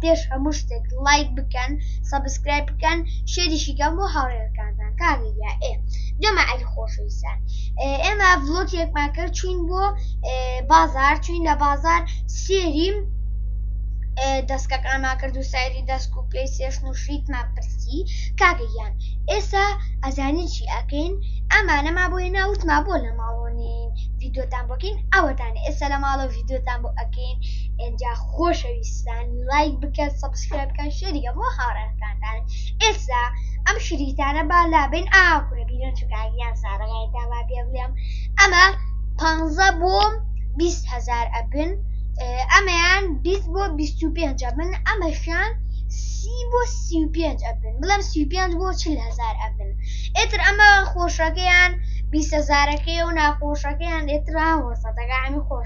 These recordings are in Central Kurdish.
پێش هەموو شتێک ڵایک بکەن سەبسکرایب بکەن شێریشی کەن بۆ هاوڕێکانتان کاک یەحیا ئێ جەماعەتی ئەی خۆشەویستان ئێمە ڤڵۆکێکمان کرد چوین بۆ بازار چوین لە بازار سێری دەستکەکانمان کرد و سەیری دەست و پێی سێشن و شیتمان پرسی کاگەیان ئێستا ئەزانی چی ئەکەین ئەمانەما بۆیە ناوتما بۆ لە ماڵۆنین ڤیددیوتان بۆکەین ئەوەتان ئێستا لە ماڵە ڤیددیوتان بۆ ئەکەین ئەجا خۆشەویستان لایک بکەن سەبسکرایب بکەن شێری کە بۆ هاوڕێکانتان ئێستا ئەم شریتانە با لابێن ئاکورە بیرن چکاگیان سارەگای داوا پێ بڵێم ئەمە پانزە بۆم بیست هزار ئەبن ئەمەیان بیست بۆ بیست و پێنج ئەبن ئەمەشان سی بۆ سی و پێنج ئەبن بڵێم سی و پێنج بۆ چل هزار ئەبن ئێتر ئەمە خۆشەکەیان بیست هزارەکەی و ناخۆشەکەیان ئێترا وەسەتەکە ئەمی خۆش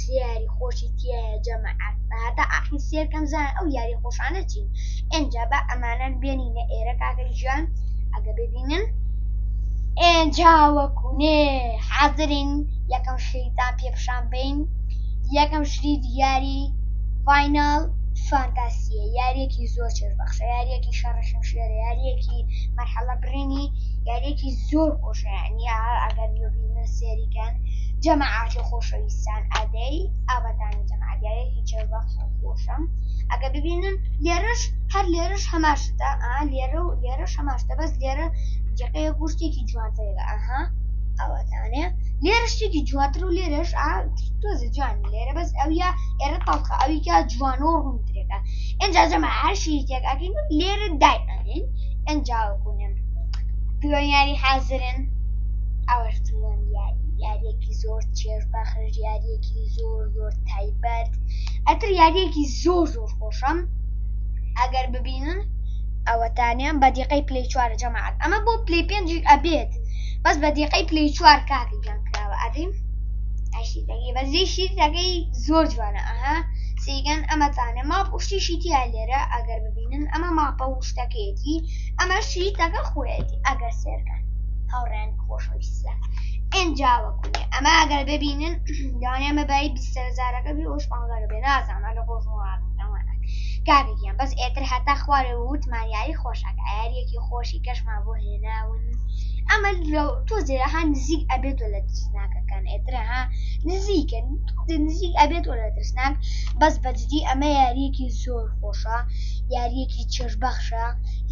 سێ یاری خۆشی تیایە جەماعەت با هەتا ئاخیر سێر کەم زان ئەو یاری خۆشانە چین ئێنجا با ئەمانەن بێنینە ئێرە کاکە گیان ئەگە ببینن ئێنجا وەکو نێ حازرین یەکەم شەیتان پێ پیشان بەین یەکەم شریت یاری فایناڵ فانتاسیە یاریەکی زۆر چێژ بەخشە یاریەکی شەڕە شمشێرە یاریەکی مەرحەڵە بڕینی یاریەکی زۆر خۆشە یانی ئەگەر ببینە سێریکەن جەماعەتی خۆشەویستان ئادەی ئاوەدانی جەماعەت دیارێکی چێژبەخش و خۆشەم ئەگەر ببینن لێرەش هەر لێرەش هەمان شتە ئا لێرە و لێرەش هەمان شتە بەس لێرە جەقەیەک بوو شتێکی جوانترێکە ئەها ئاوەتانێ لێرە شتێکی جوانتر و لێرەش ئا تۆزێ جوانی لێرە بەس ئەویا ئێرە تەڵخە ئەویکا جوانە و ڕوونترێکە ئێنجا جەماعەت هەر شیتێک ئەکەین و لێرە دایئەنێین گەنجاوە گونم درۆن یاری حازرن ئەوەش درۆن یاری یاریەکی زۆر چێژ بەخش یاریەکی زۆر زۆر تایبەت ئەتر یاریەکی زۆر زۆر خۆشەم ئەگەر ببینن ئەوەتانیان بە دیقەی پلی چوارە جەماعات ئەمە بۆ پلی پێنج ئەبێت بەس بە دیقەی پلی چوار کاکی گیان کراوە ئەدیم ئەشیدەگەی بەزی شیرەکەی زۆر جوانە ئەها سیگەن ئەمەتانێ ماپ وشتیشی تیا لێرە ئەگەر ببینن بینن ئەمە ماپە و شتەکەیەتی ئەمە شیتەکە خۆیەتی ئەگەر سێرکەن هاوڕێن خۆشەویستە ئەجاوە کوێ ئەمە ئەگەر ببینن داێ مەبایی بیسەرزارەکە بی ئەوش پانگەرە بێ نازانە لە خۆشمەوانە کارێکیان بەس ئێتر هەتا خوارێ وتمان یاری خۆشەکە یاریەکی خۆشی کەشمان بۆ هێناون ئەمە تۆ زێرەها نزیک ئەبێت و لە ترسناکەکان ئێترەها نزیکە نزیک ئەبێت و لە ترسناک بەس بەجددی ئەمە یاریەکی زۆر خۆش خۆشە یاریەکی چێژ بەخشە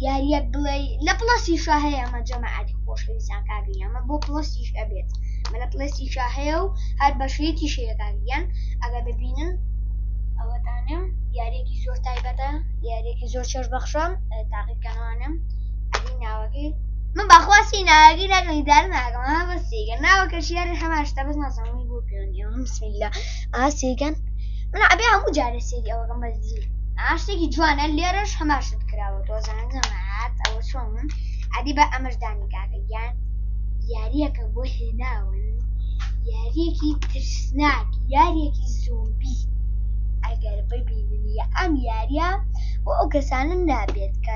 یاریەک بڵێ لە پڵەسی شا هەیە ئەمە جەماعاتی خۆشەویستان کاگەی ئەمە بۆ پڵەسیش ئەبێت مە لە پڵەسی شا هەیە و هەر بەشەیەکی شەیەکانیان ئەگە ببینن ئەوەتانم یاریەکی زۆر تایبەتە یاریەکی زۆر چێژ بەخشە تاقیکانوانم ئەدی ناوەکەی من بەخواستی ناگی نەگەی دار ناگەم بەسیگە ناوەکە شیێری هەماشتا بەس نازانەوەی بۆ پێنیەوە بسم الله ئاسیگەن من ئەبێ هەموو جارە سێری ئەوە ڕمە زی ئاشتێکی جوانە لێرەش هەماشت کراوە تۆزان جەماعات ئەوە چۆن من ئەدی بە ئەمەش دانی کاکە یان یاریەکە بۆ هێناون یاریەکی ترسناک یاریەکی زۆبی ئەگەر ببیننی ئەم یاریە بۆ ئەو کەسانم نابێت کە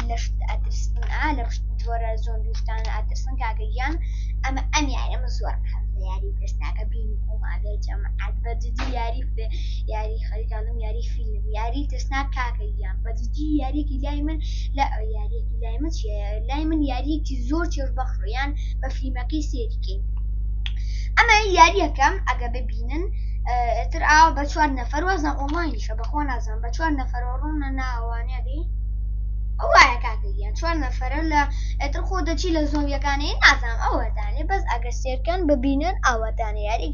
لەشت ئەترسن ئا لە ڕشت جۆرە زۆن دوشتان ئەترسن کاکە یان ئەمە ئەم یارەمە زۆر حەز یاری ترسناکە بینی ئەو ماگەر جەمە عاد بەجدی یاری بێ یاری خەریکانم یاری فیلم یاری ترسناک کاکە گیان بەجدی یاریەکی لای من لە یاریەکی لای من چیە لای من یاریەکی زۆر چێژ بەخڕیان بە فیلمەکەی سێریکەین ئەمە یاریەکەم ئەگە ببینن تر ئاوا بە چوار نەفەر وەزان ئۆمانیشە بەخوا نازان بە چوار نەفەر ڕوونە ناوانە بێ وایە کاکەیان چوار نەفەرە لە ئەتر خۆ دەچی لە زۆنگەکانی نازانام ئەوەدانێ بەس ئەگە سێرکەن ببینن ئاوادانە یاری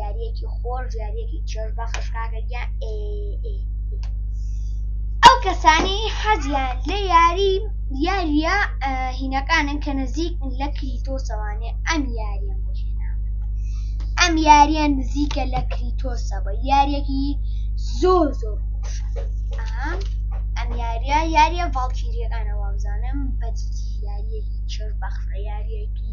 یاریەکی خۆش یاریەکی چێژ بەخش کاکە گیان ئەو کەسانی حەزیان لە یاری یاریە هینەکانن کە نزیک لە کریتۆ سەوانێ ئەم یاریان بۆ ئەم یاریان نزیکە لە کریتۆسەوە یاریەکی زۆر زۆر خۆش ئەم یاریە یاریە ڤڵکیریەکانەوە بزانم بەجدی یاریەکی چێژ بەخشە یاریەکی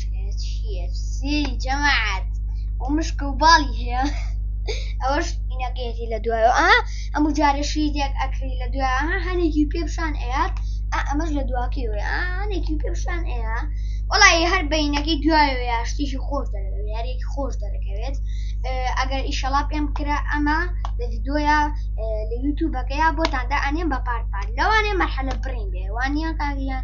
جەماعەت و مشک و باڵی هەیە ئەوەش ئینەکەیەتی لە دوای ئا ئەم و جارەشی دێک ئەکری لە دوای هەنێکی پێ پیشان ئەیات ئەمەش لە دواکەی وێ هەنێکی پێ پیشان ئەیە وڵی هەر بینەکەی دوای وێ شتێکی خۆش دەرەوێ یارێکی خۆش دەرەکەوێت ئەگەر ئیشەڵا پێم کرا ئەمە لە یددیوە لە یوتوبەکەیا بۆتاندا ئەنێم بە پارپار لەوانێ مەحەلە بڕین بێوانە کاریان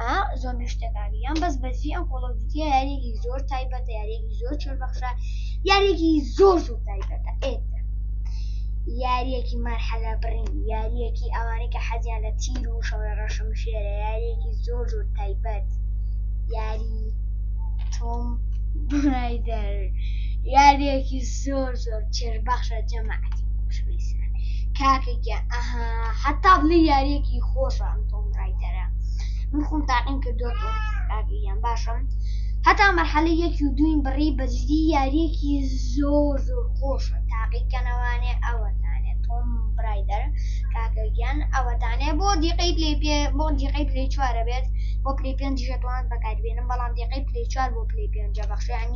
ئا زۆر نوشتەکانی یان بەس بەجی ئەم کۆڵە جوتیە یاریێکی زۆر تایبەتە یاریێکی زۆر چۆر بەخشە یاریێکی زۆر زۆر تایبەتە ئێت یاریەکی مەرحەلە بڕین یاریەکی ئەوانەی کە حەزیان لە تیر و شەڕە ڕەشم شێرە یاریەکی زۆر زۆر تایبەت یاری تۆم برایدەر یاریەکی زۆر زۆر چێژ بەخشە جەماعەتی خۆشەویستان کاکە گیان ئەها حەتا بڵێ یاریەکی خۆشە ئەم تۆم ڕایدەرە من خۆم تاقیم کردووە کاکە گیان باشم هەتا مەرحەلە یەکی و دووین بڕی بەجدی یاریەکی زۆر زۆر خۆشە تاقیکەنەوانێ ئەوەتانێ تۆم برایدەر کاکە گیان ئەوەتانێ بۆ دیقەی پلەی پێ بۆ دیقەی پلەی چوارە بێت بۆ پلەی پێنج ژێتوان بەکاربێنم بەڵام دیقەی پلەی چوار بۆ پلەی پێنجە بەخشیانی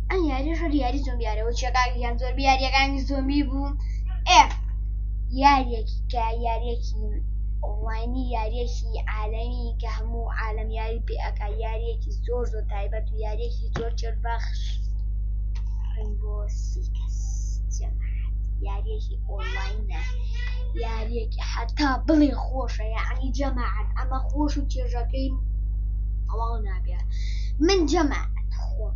ئەم یاری ژەر یاری زۆمیارەوە چێکاگیان زۆربە یاریەکانی زۆمی بوو ئێ یاریەکی کە یاریەکی ئۆنلاینی یاریەکی عالەمی کە هەموو عالم یاری پێئەکا یاریەکی زۆر زۆر تایبەت و یاریەکی زۆر چێربەخش ڕنگۆ سیکەس یاریەکی ئۆنلاینە یاریەکی حتا بڵێ خۆشە یعنی جەماعەت ئەمە خۆش و چێژەکەی ئەوڵ نابێ من جەماعەت خۆم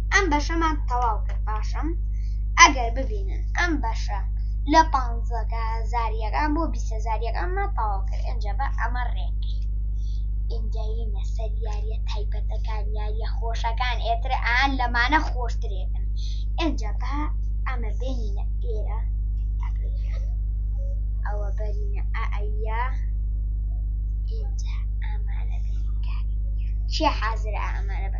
ئەم بەشەمان تەواو کرد پاشەم ئەگەر ببینن ئەم بەشە لە پ هزاریەکان بۆ بی هزاریەکانمان تەواو کرد ئەجا بە ئەمە ڕێک ئینجاینە سەر یاریە تایبەتەکان یاریە خۆشەکان ئێتر ئان لەمانە خۆشترێکن ئەجا بە ئەمە بێنینە ئێرە ئەوە بەرینە ئەیا ئینجا ئامانە چی حازرە ئامانە بە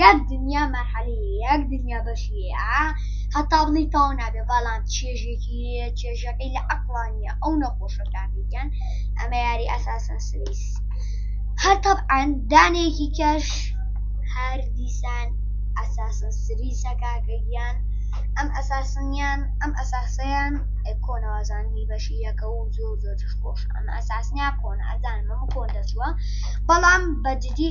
یەک دنیا مەرحەلەیە یەک دنیا بەشیەیە هەتا بڵێی تاو نابێ بەڵام چێژێکی هەیە چێژەکەی لە عەقڵانیە ئەو نەخۆشە کاکەگیان ئەمە یاری ئەساسن سریس هەر تەبعەن دانێکی کەش هەر دیسان ئەساسن سریسە کاکەگیان ئەم ئەساسنیان ئەم ئەساسەیان کۆنەوازانی بەشی یەکە و زۆر زۆر خۆش ئەم ئەساسنیا کۆن ئەزان مەمە کۆن دەچووە بەڵام بەجددی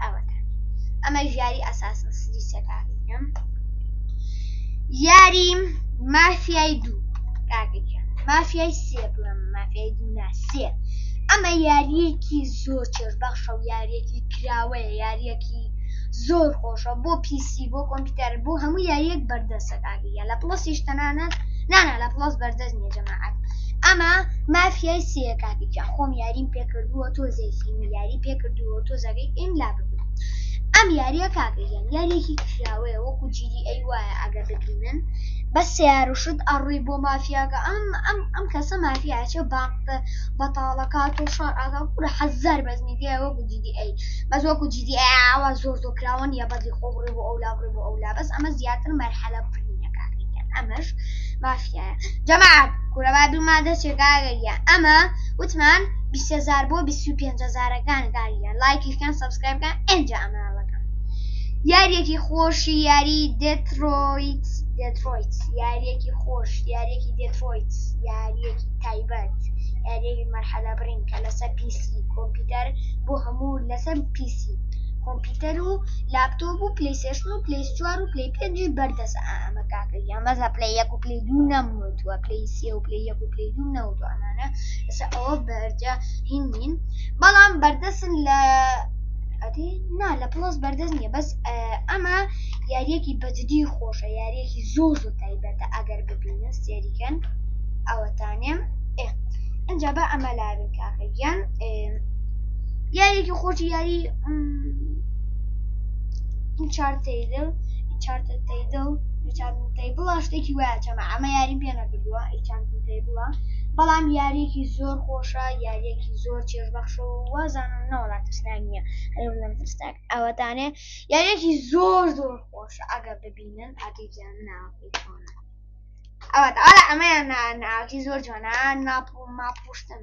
ئەوەتان ئەمە ژیاری ئەساسن سری سەکاریم یاری مافیای دوو کاکەکیان مافیای سێ بڵم مافیای دوو ناسێ ئەمە یاریەکی زۆر چێژ بەخشە و یاریەکی کراوەیە یاریەکی زۆر خۆشە بۆ پیسی بۆ کۆمپیوتەر بۆ هەموو یاریەک بەردەسەکان یا لە پڵسیش تەنانەت نانا لە پڵس بەردەست نیە جەماعات ئەمە مافیای سێە کاپیکە خۆم یاریم پێکردووە تۆ زێکی یاری پێکردووە تۆ زەگەی ئیم لا ببوو ئەم یاریە کاپیان یاریێکی کراوەیە وەکو جیری ئەی وایە ئەگەر ببینن بە سیارشت ئەڕووی بۆ مافیاگە ئەم ئەم ئەم کەسە مافیاچە باقتە بەتاڵەکات و شار ئاگا کوورە حەزار بەزمی دیە وەکو جیدی ئەی بەس وەکو جیدی ئاوا زۆر زۆر کراوە نیە بەزی خۆ بڕێ بۆ ئەولا بڕێ بۆ ئەولا بەس ئەمە زیاتر مەرحەلە بڕینەکانیکەن ئەمەش مافیایە جەماعەت کورەبا دوومان دەستێکا گەریە ئەمە وتمان بیسەزار بۆ بیست و پێنجەزارەکان گاریە لایکیشکان سەبسکرایبکان ئەنجا ئەمانەکەم یاریەکی خۆشی یاری دێترۆیت دێترۆیت یاریەکی خۆش یاریەکی دێترۆیت یاریەکی تایبەت یاریەکی مەرحەلە بڕین کە لەسەر پیسی کۆمپیوتەر بۆ هەموو لەسەر پیسی کۆمپیوتەر و لاپتۆپ و پلەی سێشن و پلەی چوار و پلەی پێنج بەردەس ئەمە کاکە گیان بەس لە پلەی یەک و پلەی دوو نەموتووە پلەی سێ و پلەی یەک و پلەی دوو نەوتووە ئەمانە ئێستا ئەوە بەرجە هین نین بەڵام بەردەسن لە ئەدی نا لە پڵۆس بەردەست نییە بەس ئەمە یاریەکی بەجددی خۆشە یاریەکی زۆر زۆر تایبەتە ئەگەر ببینە سێریکەن ئەوەتانێم ئێ ئەجا بە ئەمە لاوین کاکە گیان یاریێکی خۆشی یاری چارتەیدل چارتە تەیدڵ بڵا شتێکی وایە چەمە ئەمە یاری پێ نەکردووە بڵە بەڵام یاریێکی زۆر خۆشە یاریێکی زۆر چێژبەخش و وازانم نەوەڵات ترسناک نییە هەرم ترسناک ئەوەتانێ یاریێکی زۆر زۆر خۆش ئەگە ببینن ئەتیزیان ناوەکەی چۆنە ئەوە ئەمەیان ناکی زۆر جوانە ناپ و ماپشتن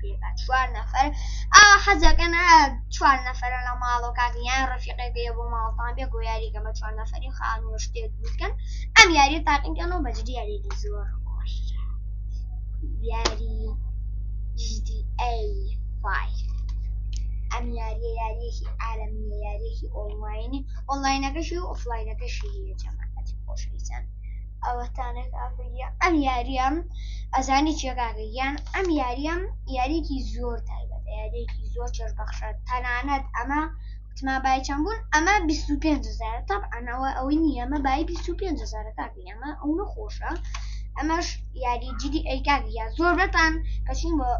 پێکا چوار نەفەر ئاوا حەزەکەن چوار نەفەرە لە ماڵەوە کاکیان ڕفیقێکەیە بۆ ماڵتان بێ گۆ یاریگە بە چوار نەفەری خانووە شتێک بکەن ئەم یاری تاقیکەن و بەجدی یاریێکی زۆر خۆش یاری ئەم یاریە یاریێکی ئارەمیە یاریێکی ئۆڵماینی ئۆنلاینەکەشی و ئۆفلاینەکەشی جەماعەتی خۆشویستان ئەوەتانێک ئاگریا ئەم یاریەم ئەزانی چێگاگە یان ئەم یاریەم یاریێکی زۆر تایبەت یاریێکی زۆر چێش بەخشە تەنانەت ئەمە وتما بای چەند بوون ئەمە 25هزار تاپ ئەنەوە ئەوەی نیەمە بای 25هزار کاکی ئەمە ئەو نەخۆشە ئەمەش یاری جدی ئەیکاک یا زۆر بەتان کەچین بۆ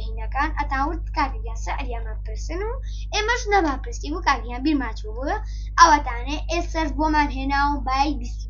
هینەکان ئەتاورد کاک یا سەعریانە پرسن و ئێمەش نەما پرسی و کاکیان بیرماچوو بووە ئەوەتانێ ئێسەر بۆمان هێنا و بای 20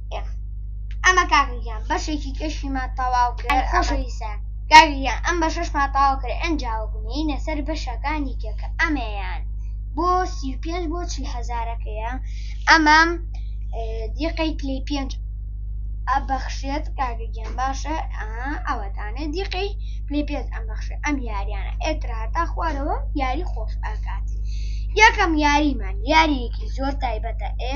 ئەمە کاکە گیان بەشێکی کەشیمان تەواو کرد ئەی خۆشەویستان کاکە گیان ئەم بەشەشمان تەواو کرد ئەنجا بنێینە سەر بەشەکانی کە کە ئەمەیان بۆ سی و پێنج بۆ چل هەزارەکەیە ئەمەم دیقەی پلی پێنج ئەبەخشێت کاکە گیان باشە ئەوەتانێ دیقەی پلی پێنج ئەم بەخشێت ئەم یاریانە ئێترا هەتا خوارەوە یاری خۆش ئاکات یەکەم یاریمان یاریەکی زۆر تایبەتە ئێ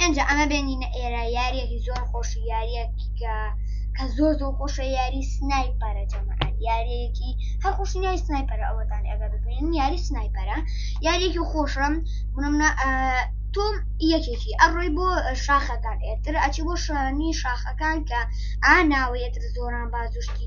ئەنج ئەمە بێنینە ئێرە یاریەکی زۆر خۆش یاریەکی کە کە زۆر زۆر خۆشە یاری سنایپەرە جەمەکان یاریەکی هەر خۆش یاری سنایپەرە ئەوەتان ئەگەر ببینین یاری سنایپەرە یاریەکی خۆشم بنمە تۆم یەکێکی ئەڕۆی بۆ شاخەکان ئێتر ئەچی بۆ شانی شاخەکان کە ئا ناوەیەتر زۆران بازوشتی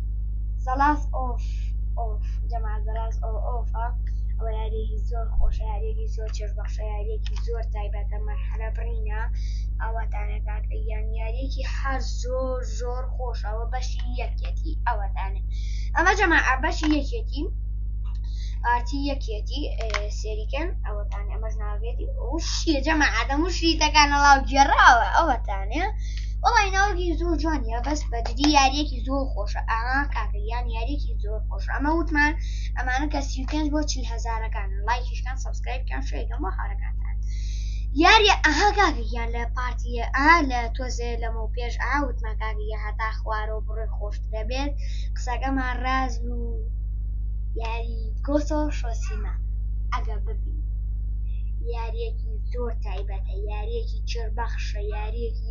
سەڵاس ئۆف ئۆف جەمال بەراز ئۆ ئۆفە ئەوە یاریەکی زۆر خۆشە یاریەکی زۆر چێژ بەخشە یاریەکی زۆر تایبەتە مەرحەلە بڕینە ئاواتانەکات یان یاریەکی هەر زۆر زۆر خۆش ئەوە بەشی یەکێتی ئەوەتانێ ئەمە جەما بەشی یەکێتی پارتی یەکێتی سێریکەن ئەوەتان ئەمەش ناوێتی ئەو شیە جەما ئادەم و شریتەکانە ڵاو گێڕاوە ئەوەتانێ وڵی ناوەکی زۆر جوانە بەس بەجددی یاریەکی زۆر خۆشە ئاها کاکە گیان یاریەکی زۆر خۆش ئەمە وتمان ئەمانە کە سی و پێنج بۆ چل هەزارەکان لایکیشکان سەبسکرایبکان شەیکەم بۆ هاورەکانتان یاریە ئەها کاکە گیان لە پارتیە ئا لە تۆزێ لەمە و پێش ئا وتمان کاکە گیان هەتا خوارە و بڕێ خۆشترە بێت قسەکەمان ڕاز و یاری گۆسۆ شۆسیما ئەگە ببی یاریەکی زۆر تایبەتە یاریەکی چێربەخشە یاریەکی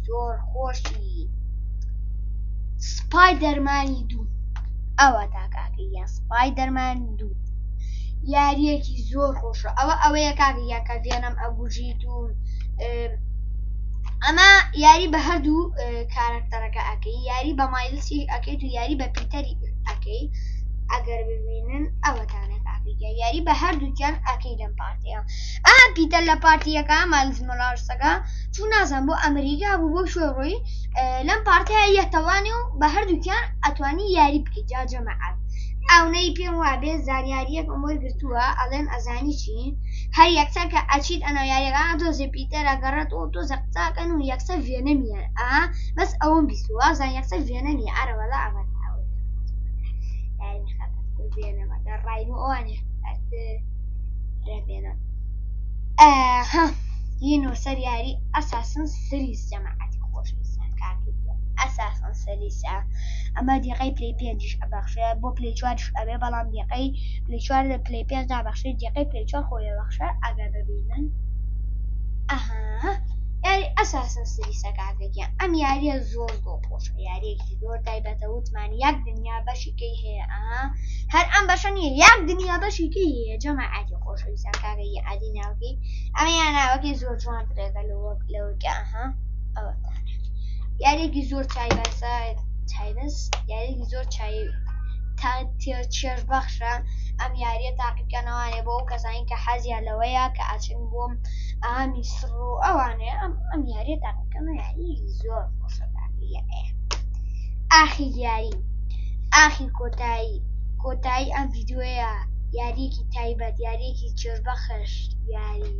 زۆر خۆشی سپای دەرمانی دوو ئەوە تا کاکە یە سپای دەرمان دوو یاریەکی زۆر خۆشە ئەوە ئەوەیە کاکە یا کە ڤێنم ئەگوژیت و ئەمە یاری بە هەردوو کارەکتەرەکە ئەەکەی یاری بە مایلسی ئەەکەیت و یاری بە پیتەری ئەەکەی ئەگەر ببینن ئەوەتانە کاکە یاری بە هەردووکیان ئەەکەی لەم پارتەیە ئا پیتە لە پارتیەکە مالز مۆلارسەکە چوو نازان بۆ ئەمریکا بوو بۆ شوێ ڕووی لەم پارتیا یەتەوانی و بە هەردووکیان ئەتوانی یاری بکە جا جەمەعات ئەونەی پێم وابێ زانیاریەک ئەمۆی گرتووە ئەڵێن ئەزانی چی هەر یەکسەر کە ئەچیت ئەنە یاریەکە تۆزێ پیتەرە گەڕێت و تۆزە قساکەن و یەکسە ڤێنەمیان ئا بەس ئەوم بیستوە زان یەکسە ڤێنەمی ئارە وەلا ئەمە ڕای ئەوانێ رێبێنە ئەها ی نووسەر یاری ئەساسن سریس جەماعەتی خۆشەویستان کاکەی گیان ئەساسن سریسە ئەمە دەقەی پلەی پێنجیش ئەبەخشێ بۆ پلەی چواریش ئەبێ بەڵام دەقەی پلەی چوار لە پلەی پێنج نابەخشێ دەقەی پلەی چوار خۆی ئەبەخشێ ئەگەر ببینن ئەها یاری ئەساسن سریسە کاکە گیان ئەم یاریە زۆر زۆر خۆشە یاریەکی زۆر تایبەتە وتمان یەک دنیا بەشی بەشێکەی هەیە ئەها هەر ئەم بەشە نییە یاک دنیا بەشێکی هەیە جەمە عادی خۆشەویستان کاگەی عادی ناوکی ئەمە یا ناوەکەی زۆر جوان درێگە لە وەک لەوەکە ئەها ئەوە یاریێکی زۆر چای بەسە چایبەس یاریێکی زۆر چای تا چێژ بەخشە ئەم یاریە تاقیکەنەوانێ بۆ ئەو کەسانی کە حەزیا لەوەیە کە ئاچن بۆم ئامی سڕ و ئەوانێ ئەم ئەم یاریە تاقیکەمە یاری زۆر خۆشە تاقیە ئەیە ئاخی یاری ئاخی کۆتایی کۆتایی ئەم ڤیدیۆیە یاریەکی تایبەت یاریەکی چێژ بەخش یاری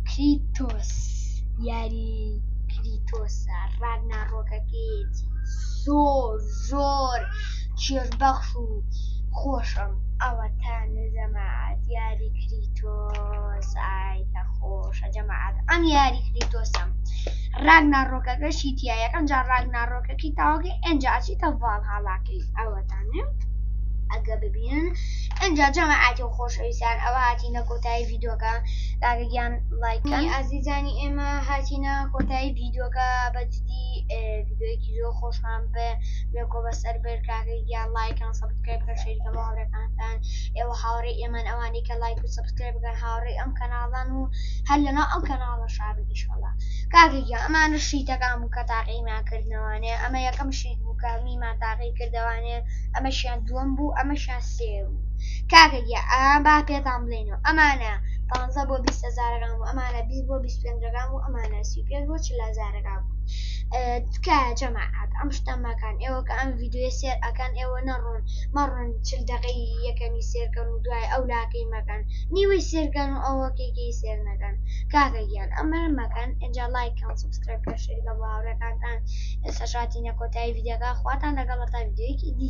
کریتۆس یاری کریتۆسە ڕاگنا ڕۆکەکەیەتی زۆر زۆر چێژ بەخش و خۆشم ئەوەتا نەجەماعات یاری کریتۆس ئای کە خۆشە جەماعات ئەم یاری کریتۆسم ڕاگناڕۆکەکەشی تیا یەکەم جار ڕاگناڕۆکەکەی تەواو کەی ئەنجا ئەچیتە ڤاڵهاڵاکەی ئەوەتانێ ئەگە ببینن ئەنجا جەماعاتی و خۆشەویستان ئەوە هاتینە کۆتایی ڤیدۆکە داگەگیان لایکانی ئازیزانی ئێمە هاتینە کۆتایی ڤیدۆکە بەجدی ڤیدۆیەکی زۆر خۆشمان بە بێکۆ بەسەر بەر کاگەگیان لایکان سەبتکرێب کە شەریکە بە هاوڕێکانتان ئێوە هاوڕێ ئێمان ئەوانەی کە لایک و سەبتکرێب بکەن هاوڕێ ئەم کەناڵان و هەر لەناو ئەم کەناڵە شابن ئیشەڵا کاکە گیان ئەمانە شیتەکان بوو کە تاقیمان کردنەوانێ ئەمە یەکەم شیت بوو کە میمان تاقی کردەوانێ ئەمەشیان دووەم بوو ئەمەشیان سێ بوو کاکە گیان ئا با پێتان بڵێینەوە ئەمانە پانزە بۆ بیست هەزارەکان بوو ئەمانە بیست بۆ بیست پێنجەکان بوو ئەمانە سی و پێنج بۆ چل هەزارەکان بوو تکایە جەماعەت ئەم شتە مەکەن ئێوە کە ئەم ڤیدیۆیە سێر ئەکەن ئێوە نەڕۆن مەڕۆن چل دەقەی یەکەمی سێرکەن و دوای ئەو لاکەی مەکەن نیوەی سێرکەن و ئەوەکێکی سێر نەکەن کاکە گیان ئەمەش مەکەن ئینجا لایک کەن سەبسکرایب کەن شێری کەن بۆ هاوڕێکانتان ئێستاش هاتینە کۆتایی ڤیدیۆکە خواتان لەگەڵ هەتا ڤیدیۆیەکی دی.